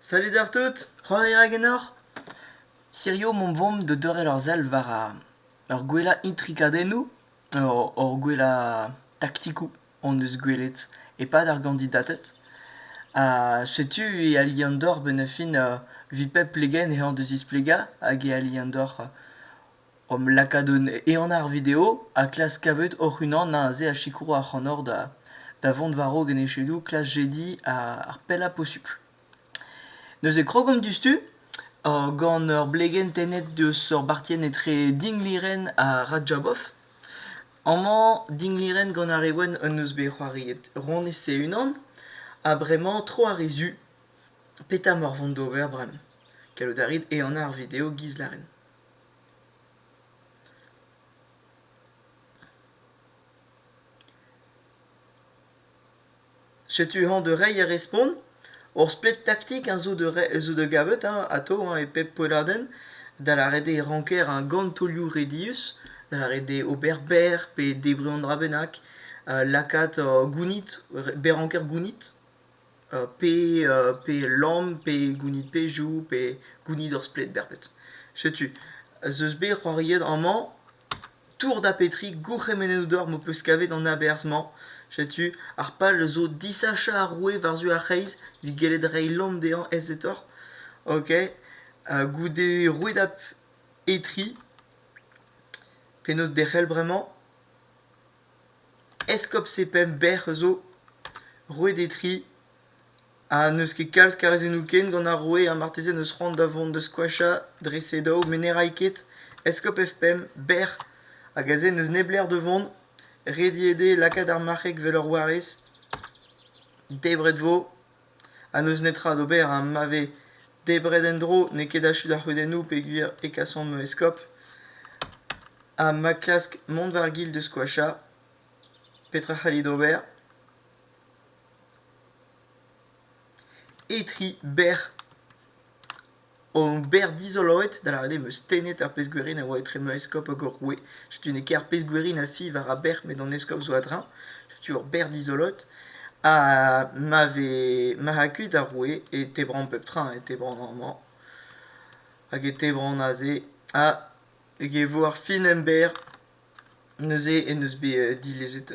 Salud oc'h tout, c'hoant eo ganeoc'h? Hirio omp 'vont da dorrel ur sell war ur gwellañ intrikadennoù, hor gwellañ taktikoù hon eus gwelet e-pad ar gandidated. Ha setu e ali an doc'h 'benn ar fin evit pep plegenn ec'h an da zisplegañ hag e ali an doc'h Omp lakaat un ehan àr video ha klask kavet hoc'h-unan aze a sikour ac'hanoc'h da da vont war-raok en echedoù klas jediñ ar pellañ posupl. Neuze krog omp diouzhtu gant ur blegenn tennet deus ur bartienn etre dinglirenn ha Rajabov. Amañ dinglirenn gant ar re wenn en deus bet c'hoariet Ronez e-unan ha bremañ tro ar re zu. Petra 'maoc'h vont d'ober bremañ? Gallout a rit ehanañ ar video giz lârin. Setu hañ da reiñ ar respont. Ur splet taktik zo da gavet atav e pep poelladenn, da lâret eo ranker gant taolioù redius, da lâret eo ober berr pe debriñ an dra bennak, lakaat gounit, berr-ranker gounit. pe pe lamm pe gounid pezhioù pe gounid ur splet berped. Setu, ez eus bet c'hoariet amañ tour da Petrig gourc'hemennoù deoc'h m'ho peus kavet an aberzh-mañ. Setu, ar pal zo disachañ ar roue war-zu ar c'hreiz evit gellet reiñ lamm dezhañ aezetoc'h. Ok, goude rouedad Etri, penaos derc'hel bremañ? Eskob Sepen Bec'h zo. Roet eo tri. Ha n'eus ket kalz kazezennoù ken gant ar roue ha marteze n'eus c'hoant da vont da skoachañ dre se daou met ne ray ket. Eskob F5, Bec'h hag aze n'eus neblec'h da vont. Rediet eo lakaat ar marc'heg 'vel ur warez. Debret 'vo. ha n'eus netra d'ober ha ma vez debret en-dro n'eo ket achu d'ar c'hudennoù peogwir e kasomp eskop ha ma klask mont war gil da skoachañ petra c'hallit ober etri berr An ober dizoloet, da lavaret eo 'm eus tennet ar pezh-gwerin a oa etre ma eskob hag hor roue. Setu n'eo ket ar pezh-gwerin a fi war ar bec'h met an eskob zo a-dreñv. Setu ur bec'h dizoloet. Ha ma vez marc'h kuit ar roue e tebran pep tra. E tebran amañ hag e tebran aze. Ha hag e vo ar fin emberr. Neuze en deus bet dilezet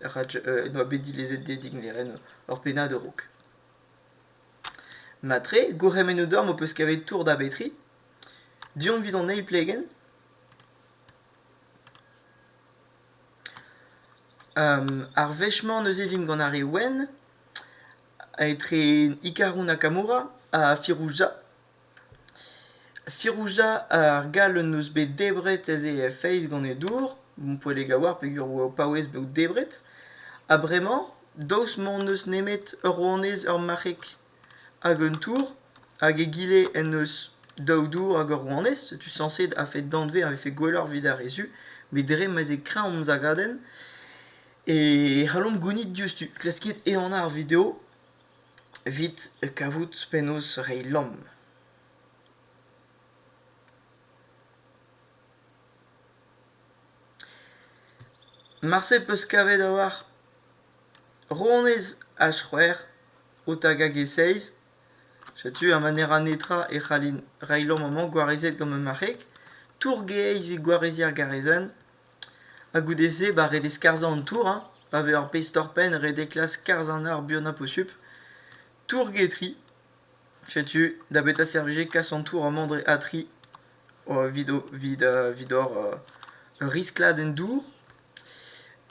ar Raj- en doa bet dilezet Diedig Nerenn ur pennad a-raok. Matre, gourc'hemennoù deomp ho peus kavet tour da Betri. Du-hont evit an eil plegenn. Um, ar wech-mañ neuze vimp gant ar re wenn, etre Ikaroun ha Kamoura, ha Firouzja. Firouzja ar gall en deus bet debret aze feiz gant e dour, Poellek a oar peger eo paouez bet debret, ha bremañ, daoust m'hon eus nemet ur ronez ur marc'heg hag un tour, hag egile en deus daou dour hag ur ronez, setu sañset a-fet danvez a vefe gwelloc'h evit ar re zu, met dre ma'z eo kreñv hom zagadenn, e c'hallomp gounit diouzhtu. Klaskit ehanañ ar video. evit kavout penaos reiñ lamm. Marse 'peus kavet a-walc'h ronez ha c'hwec'h o tagañ e-seizh. Setu ar manera netra e c'hallin reiñ lamm amañ gwarezet gant ma marc'heg. Tour-gaezh evit gwareziñ ar garezenn. Ha goude-se, ba ret eo skarzhañ an tour hein, pa vez ur pezh torr-penn ret eo klask skarzhañ ar buanañ posupl. Tour-getri, setu da betra servije kas an tour amañ dre Atri evit o- evit evit hor ur riskladenn dour.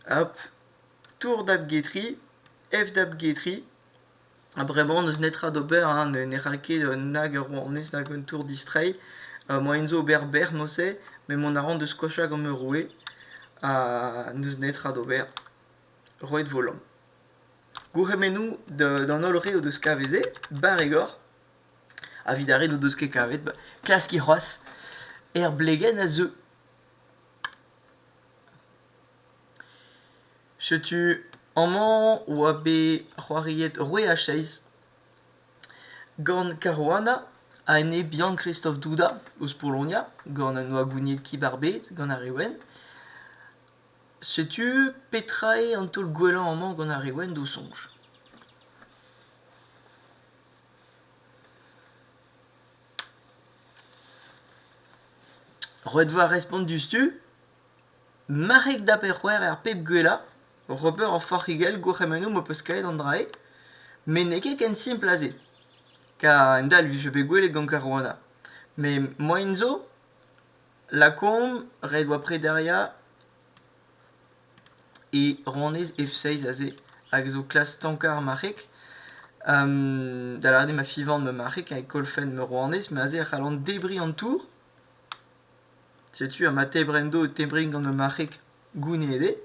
Hop, tour dap getri, ef dap getri. Ha bremañ n'eus netra d'ober hein, ne ne c'hall ket nag ur rouanez nag un tour distreiñ. moaien zo ober bec'h morse met mont a ran da skoachañ gant ma roue ha n'eus netra d'ober, roet vo lamm. Gourc'hemennoù d'an holl re o deus kavet se, barregor, evit ar re n'o deus ket kavet, klaskiñ c'hoazh, er blegenn a zeu. Setu amañ oa bet c'hoariet Roué ha Chase gant Caruana ha ene Bian-Kristof Duda eus Polonia gant an Oagounied Kibarbed gant ar re wenn. Setu petra eo an taol gwellañ amañ gant ar re wenn d'o soñj. Roet 'vo ar respont diouzhtu. Marc'heg da pe-c'hwec'h er pep gwellañ, oc'h ober ur forc'higell gourc'hemennoù m'ho peus kavet an dra-se, met n'eo ket ken simpl ha-se. Kar endalc'h vije bet gwelet gant Caruana. Met moaien zo, lakaomp ret oa prederiañ e rannyezh F6 aze, hag a zo klas stankañ ar marc'heg. da lâret eo ma fivan ma marc'heg, ha e kolfen ma rouanez, met aze e c'hallan debriñ an tour. Setu ama tebrendo o tebri gant ma marc'heg gounid eo.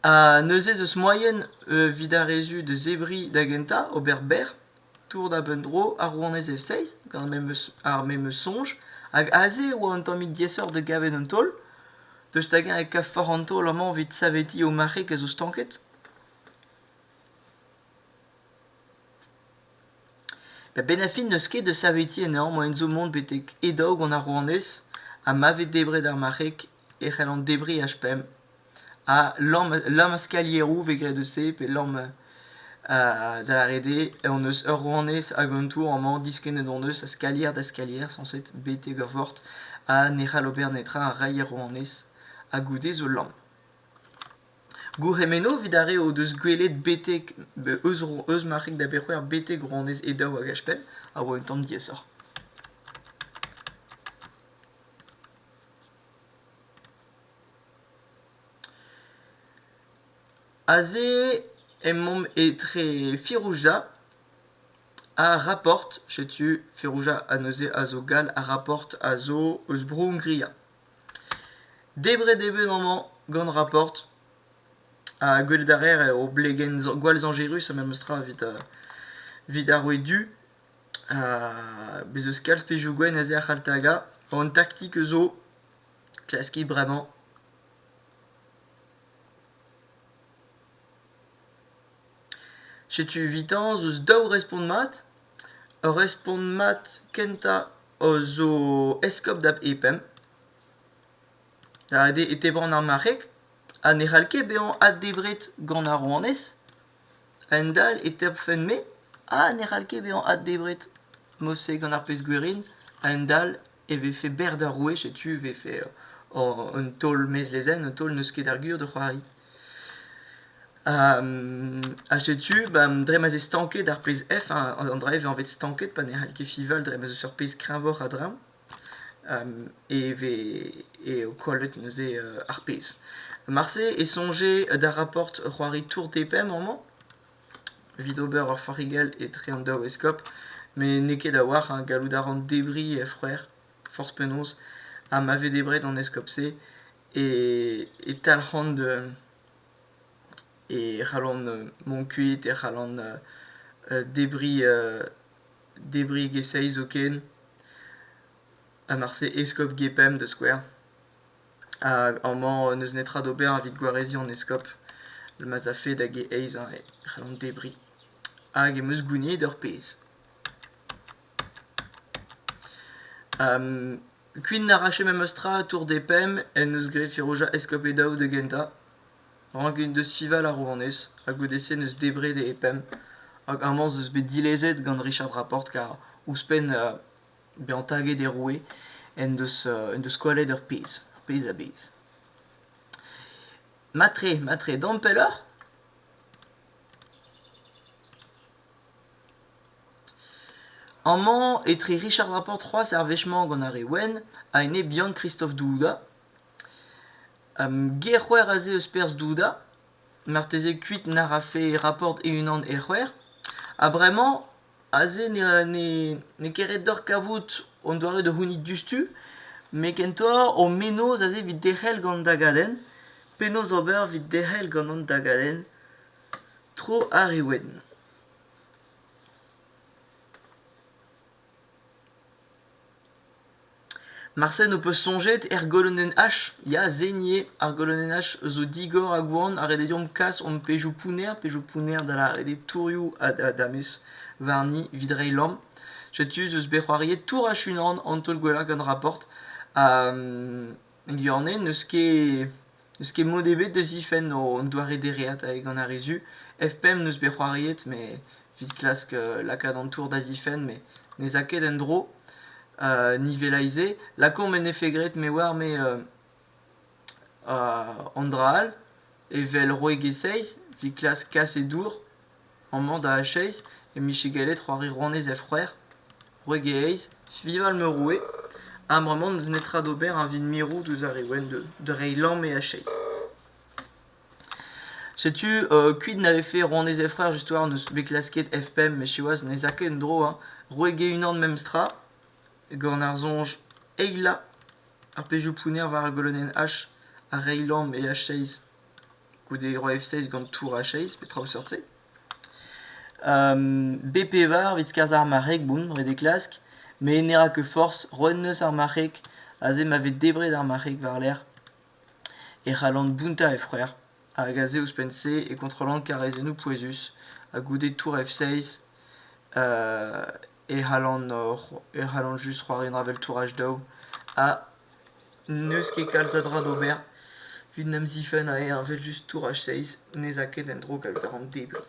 Ha neuze ez eus moaien evit ar re zu da zebriñ da gentañ, ober berr, tour da benn dro ar rouanez Efseiz gant ar memes, ar memes soñj, hag aze e oa un tammig diaesoc'h da gavet un taol, daoust hag-eñ e kavfoc'h an taol amañ evit savetiñ ho marc'heg a zo stanket? Da bennafi n'eus ket da saveti anezhañ moaien zo mont betek e-daog an arouanez ha ma vez debret ar marc'heg e c'hellont debriñ h5 ha lamm ar skalieroù 'vez graet eus se pe lamm da lâret eo hon eus ur rouanez hag an tour amañ diskennet hon eus a skalier da skalier sañset betek ur vort ha ne c'hall ober netra a ray ar rouanez ha goude zo lamm Gourc'hemenno evit ar re o deus gwelet betek eus Marc'hig da Berc'houer betek rouanez Edaou hag Ashpen a oa un tamm diaesoc'h. Aze emaomp etre Firouzja ha Raport. Setu Firouzja ha neuze a zo gall ha Raport a zo eus Bro-Hongria. Debret eo bet amañ gant Raport ha gwelet a reer eo blegenn gwall zañjerus ha memestra evit evit ar roue du. Bez' eus kalz pezhioù gwenn ez eo ar C'haltaga. An taktik zo klaskiñ bremañ. Setu evitañ ez eus daou respont mat. Ur respont mat kentañ zo eskob da Epemp. Ret eo e tebran ar marc'heg ha ne c'hall ket bezañ addebret gant ar rouanez. A-hend-all e tebrfen-me ha ne c'hall ket bezañ addebret. Mod-se gant ar pezh-gwerin a-hend-all e vefe berr d'ar roue setu e vefe un taol mezlezenn un taol n'eus ket ar gwir da c'hoari ha setu dre ma 'z eo stanket ar pezh F an dra e vez anvet stanket pa ne c'hall ket fival dre ma 'z eus ur pezh kreñvoc'h a-dreñv e vez eo kollet neuze ar pezh. Marse e soñje d'ar raport c'hoari Tour des Paims amañ evit ober ur farigell etre an daou eskob met n'eo ket a-walc'h ha gallout a ran debriñ e c'hwec'h forzh penaos ha ma vez debret an eskob-se e talc'han e c'hallan mont kuit e c'hallan debriñ geseil zoken ha marse eskob gepemp da skouer Hag amañ n'eus netra d'ober evit gwareziñ an eskob ma'z afe da g-eizh e c'hell an debriñ. Hag em eus gouniet ur pezh. kuit n'arrache memes tra Tour des Pemmes en deus graet Firouzja eskob e daou da gentañ. Rank int deus fival ar rouanez ha goude-se n'eus debret e pemp. Hag amañ 'z eus bet dilezet gant Richard Rapporte kar ouzhpenn bezañ taget er roue en deus en deus kollet ur pezh ur pezh a-bezh. Matre, matre, dont pelloc'h? Amañ, etre Richard Laporte c'hoazh ar wech-mañ gant ar re wenn, a-enep Yann Kristof Douda. Gerc'hwer aze eus perzh Douda, marteze kuit nac'h afe Raport e-unan Erc'hwer. Ha bremañ, Aze n'eo ket ret deoc'h kavout an doare da c'hounit diouzhtu, met kentoc'h ho menoz aze evit derc'hel gant an dagadenn. Penaos ober evit derc'hel gant an dagadenn tro ar re wenn? Marcel n'ho peus soñjet er golonenn H ya seniñ eo ar golonenn H zo digor ha gwan ha ret eo deomp kas hon pezhioù pounner pezhioù pounner da lâret eo tourioù ha da damez warni evit reiñ lamm setu ez eus bet c'hoariet tour ha chunan an taol gwellañ gant Raport ha Lianne n'eus ket n'eus ket mod ebet da zifenn an doare dereat gant ar re zu. F5 n'eus bet c'hoariet met evit klask lakaat an tour da zifenn met ne 'z a ket en-dro. Nivelay-se lakaomp en efe graet me oar me an dra all evel roeg e seizh evit klask kas e dour. Amañ da Acheiz e-mije gallet c'hoari rouanez he c'hwec'h, wreg-he eizh, Fival Meurroue, ha bremañ n'eus netra d'ober evit mirout ouzh ar re wenn da reiñ lamm e Acheiz. Setu kuit na vefe rouanez he c'hwec'h histoire n'eus bet klasket F-pemp met siwazh n'ez a ket en-dro hein. Wreg e-unan memestra gant ar soñj eilañ ar pezhioù pounner war golonenn H ha reiñ lamm e Acheiz. goude Roi F6 gant Tour H6, pe traoù seurt-se. B-pevar evit skarzhañ ar marc'heg, bon, ret eo klask, met ne ra ket forzh, roet 'neus ar marc'heg, aze ma vez debret ar marc'heg war-lerc'h, e c'hallan bountañ he c'hwec'h, hag aze ouzhpenn-se e kontrollan karrezennoù pouezus, ha goude Tour F6 e c'hallan just c'hoari un avel-touraj daou ha n'eus ket kalz a dra d'ober evit 'n em zifenn a rea evel-just touraj seizh n'ez a ket en-dro gallout a ran debriñ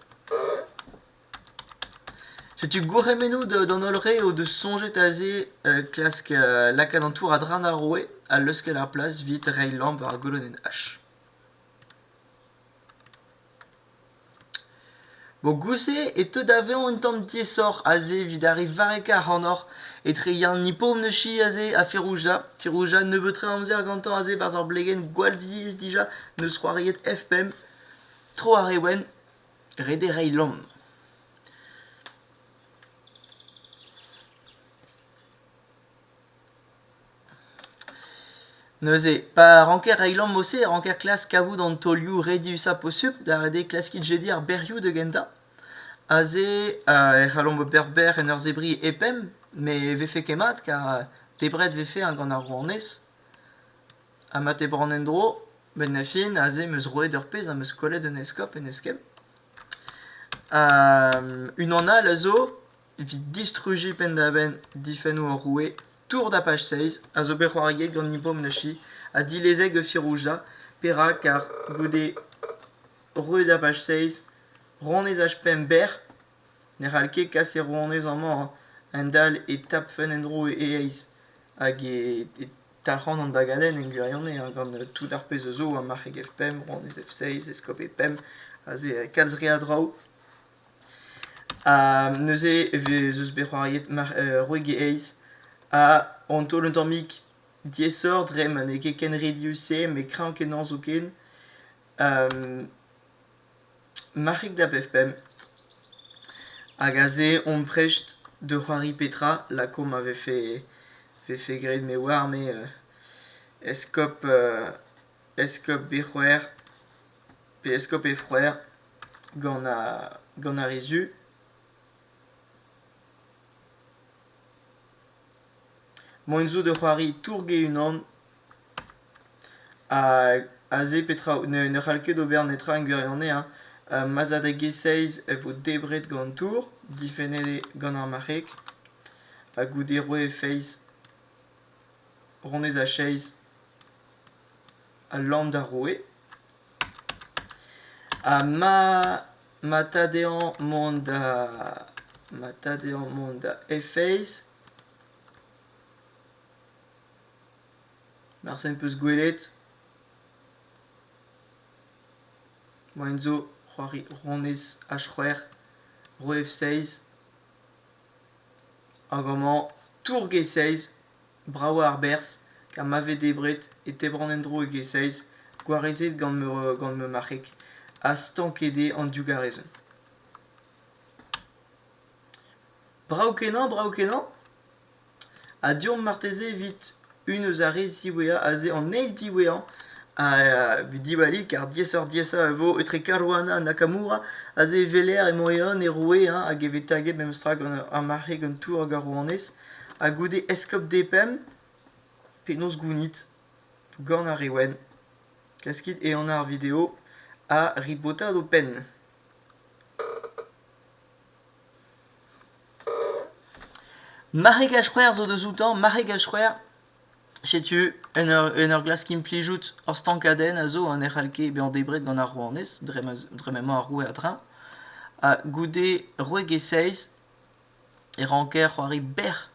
setu gourc'hemennoù d'an holl re o deus soñjet aze klask lakaat an tour a-dreñv ar roue ha leuskel ar plas evit reiñ lamp war golonenn h Mogouse e teu da vezañ un tamm diaesoc'h aze evit ar re varrekañ ac'hanoc'h etre Yann Nipomneuschi aze ha Ferouja. Ferouja nebeut tre amzer gantañ aze barzh ur blegenn gwall ziaes dija n'eus c'hoariet F5. Tro ar re wenn, ret eo reiñ lamm. Neuze, pa ranker reiñ lamm-ose e ranker klask kavout an taolioù rediusañ posupl da redek klaskit jediñ ar berrioù da gentañ. Aze e c'hallomp ober berr en ur zebriñ e-pemp met e vefe ket mat kar debret vefe hein gant ar rouanez. Ha ma tebran en-dro, benn da fin aze 'm eus roet ur pezh ha 'm eus kollet un eskob en eskemm. Unan all a zo Evit distrujiñ penn-da-benn difennoù hor roue, Tour Dapach Seiz a zo bet c'hoariet gant Nippo Mnashi ha dilezet gant Firouzja, perak car goude roue Dapach Seiz rouanez HPM berr ne c'hall ket kas e rouanez amañ a-hend-all e tapfen en-dro e aez hag e talc'han an dagadenn en gwirionez gant tout ar pezh a zo marc'heg FPM, rouanez F-Seiz, eskob E-Pemp, aze kalz re a draoù. neuze e vez eus bet c'hoariet roegelezh ha an taol un tammig diaesoc'h dre ma n'eo ket ken redius-se met kreñv kenañ zoken marc'hig da bep pemp hag aze on prest da c'hoari petra lakaomp ma vefe vefe graet me oar me eskop eskop bet c'hwec'h pe eskob he c'hwreur gant ar re zu. Mont zo da c'hoari tourg e-unan ha aze petra ne c'hall ket ober netra en gwirionez ma'z a da g-seiz e vo debret gant tour difennet gant ar marc'heg ha goude roet he feiz honnezh a-seiz. al lann d'ar roue. Ha ma ma ta dezhañ mont da ma ta dezhañ mont da Efeiz. Marse em peus gwelet. Moain zo c'hoari ronez H-c'hwec'h, roue F-seiz. Hag amañ tourg e seiz. Bravañ a-berzh, ha ma vez debret e tebran en-dro e gesailz gwarezet gant ma marc'heg ha stanket eo an digarezenn. Brav-kenañ, brav-kenañ. Ha deomp marteze evit un eus ar re ziwezhañ, aze an eil diwezhañ a vez diwallit car diaesoc'h-diaesañ e vo etre Caruana ha Nakamura aze e weler emañ e-un e roue hag e vez taget memestra gant ar marc'heg un tour gant ar rouanez ha goude eskob Depemb, penaos gounit gant ar re wenn, klaskit ehan ar video ha ribotat ho penn. Marregaj c'hwer zo deus outañ, marregaj c'hwer. Setu en ur, en ur glask implijout ur stankadenn a zo, ha ne c'hall ket bezañ debret gant ar rouanez, dre, ma, dre m'emañ ar roue a-dreñv. Ha goude roeg e seiz, e ranker c'hoari bec'h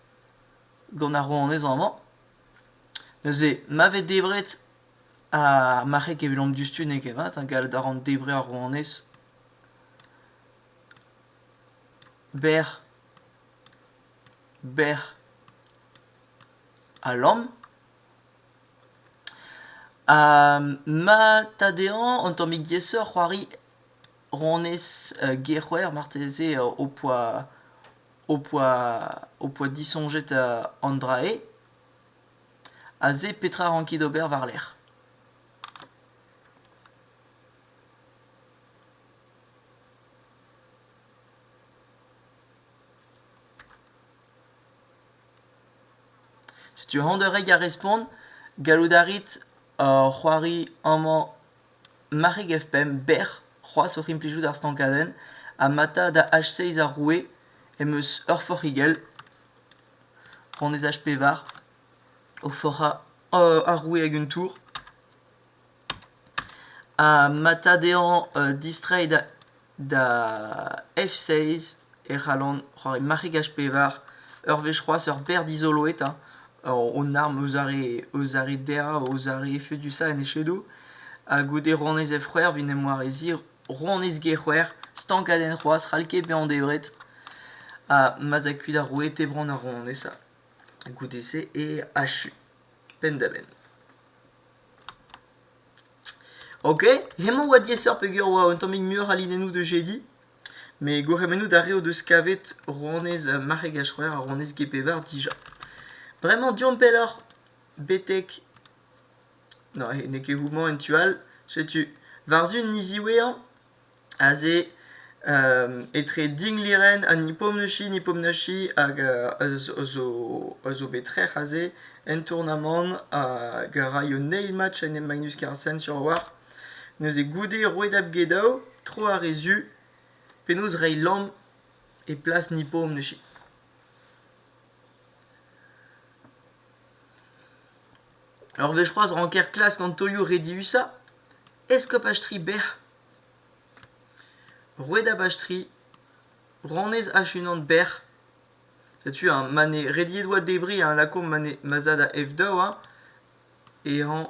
gant ar rouanezañ-mañ. Neuze, ma vez debret ar marc'heg evidomp diouzhtu n'eo ket mat, hein, gallout a ran debriñ ar rouanez bec'h, bec'h ha lamm. Ha ma ta dezhañ un tammig diaesoc'h c'hoari honnezh gec'houer marteze ho poa ho poa ho poa disoñjet an dra-se ha se petra a rankit ober war-lerc'h setu aon da reiñ ar respont gallout a rit c'hoari amañ Marc'heg F5 bec'h c'hoazh oc'h implijout ar stankadenn amata da H6 ar roue em eus ur forc'higell honnezh H5 o forc'hañ ar roue hag un tour amata dezhañ distreiñ da da F6 e c'hallan c'hoari marc'hegaj pevar. Ur wech c'hoazh ur berr dizolo eta, hon arm eus ar re eus ar re derv, eus ar re efedusañ en echedoù. Ha goude ronez F-c'hwec'h vin em wareziñ, ronez G-c'hwec'h, stankadenn c'hoazh, c'hall ket bezañ debret. Ha ma 'z a kuit ar roue e tebran ar ronez ha goude-se e achu penn-da-benn. Ok, hemañ 'oa diaesoc'h peogwir 'oa un tammig muioc'h a linennoù de jedi. Mais gourc'hemennout a reot deus kavet rouanez marc'heg ha c'hwec'h ha rouanez Gepevar dija. Bremañ deomp pelloc'h betek... Non, n'eo ket houmañ en tu all. Setu, war-zu niz iwe'añ, Aze etre Dinglýren ha Nipomnushy, Nipomnushy hag a zo a zo bet trec'h aze en tournamant hag a raio an eil match en Magnus Carlsen sur-a-walc'h. Neuze goude roet apgedaou, tro ar re zu, penaos reiñ lamm e plas Nipomnushy. Ur wech c'hoazh ranker klask an taolioù rediusañ, eskopaj tri bec'h. Roet abastri, ranez ach-unan berr. Setu eñ ma ne rediet oa debriñ eñ lakaomp ma ne ma za da F-daou eñ e rañ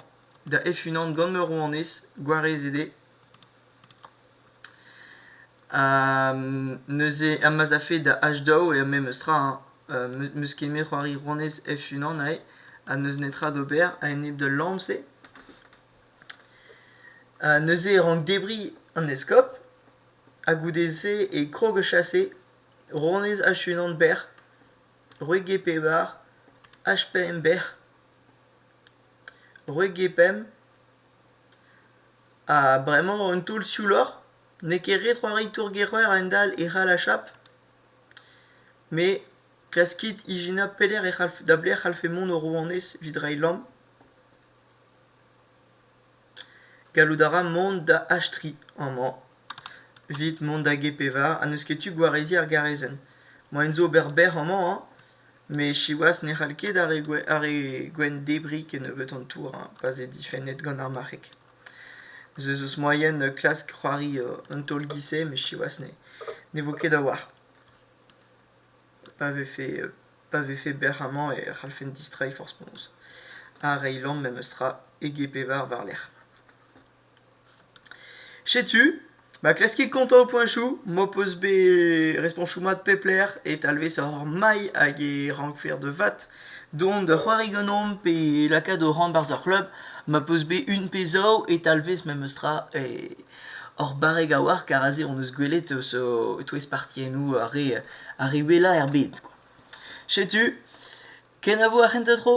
da F-unan gant ma rouanez gwarezet eo. neuze ha ma 'z afe da H-daou eo memes tra eñ m'eus ket met c'hoari rouanez F-unan aze ha n'eus netra d'ober a-enep d'al lamm-se. Ha neuze e rank debriñ an eskob ha goude-se e krog o chase ronez H-unan Berr, Roeg-e-Pevar, H-pemp Berr, Roeg-e-Pemp ha bremañ un taol siouloc'h n'eo ket ret c'hoari tour-gec'heur a-hend-all e c'hall achap met klaskit ijinañ pelec'h e c'hall da belec'h e c'hallfe mont ho rouanez evit reiñ lamm. Gallout a ra mont da Astri amañ. Evit mont da G-Pevar ha n'eus ket tu gwareziñ ar garezenn. Moaien zo ober bec'h amañ, hein. Met siwazh ne c'hall ket ar re gwe- ar re gwenn debriñ kennebeut an tour, hein, pa 'z eo difennet gant ar marc'heg. Ez eus moaien klask c'hoari un taol giz-se, met siwazh ne, ne vo ket a-walc'h. Pa vefe pa vefe bec'h amañ e c'hallfen distreiñ forzh-penaos. Ha reiñ lamm memestra ege-pevar war-lerc'h. Setu, ma klaskit kontañ ho poeñchoù, m'ho peus bet respoñchoù mat pep lec'h e talvesoc'h mailh hag e rankfer da vat dont da c'hoari ganeomp pe lakaat ho c'hamp barzh ar c'hleub ma peus bet un pe zaou e talvez memestra e Hor barreg a-walc'h, kar aze hon eus gwelet eus o- e-touez partiennoù ar re ar re wellañ er bed. kwa. Setu, kenavo ar c'hentañ tro.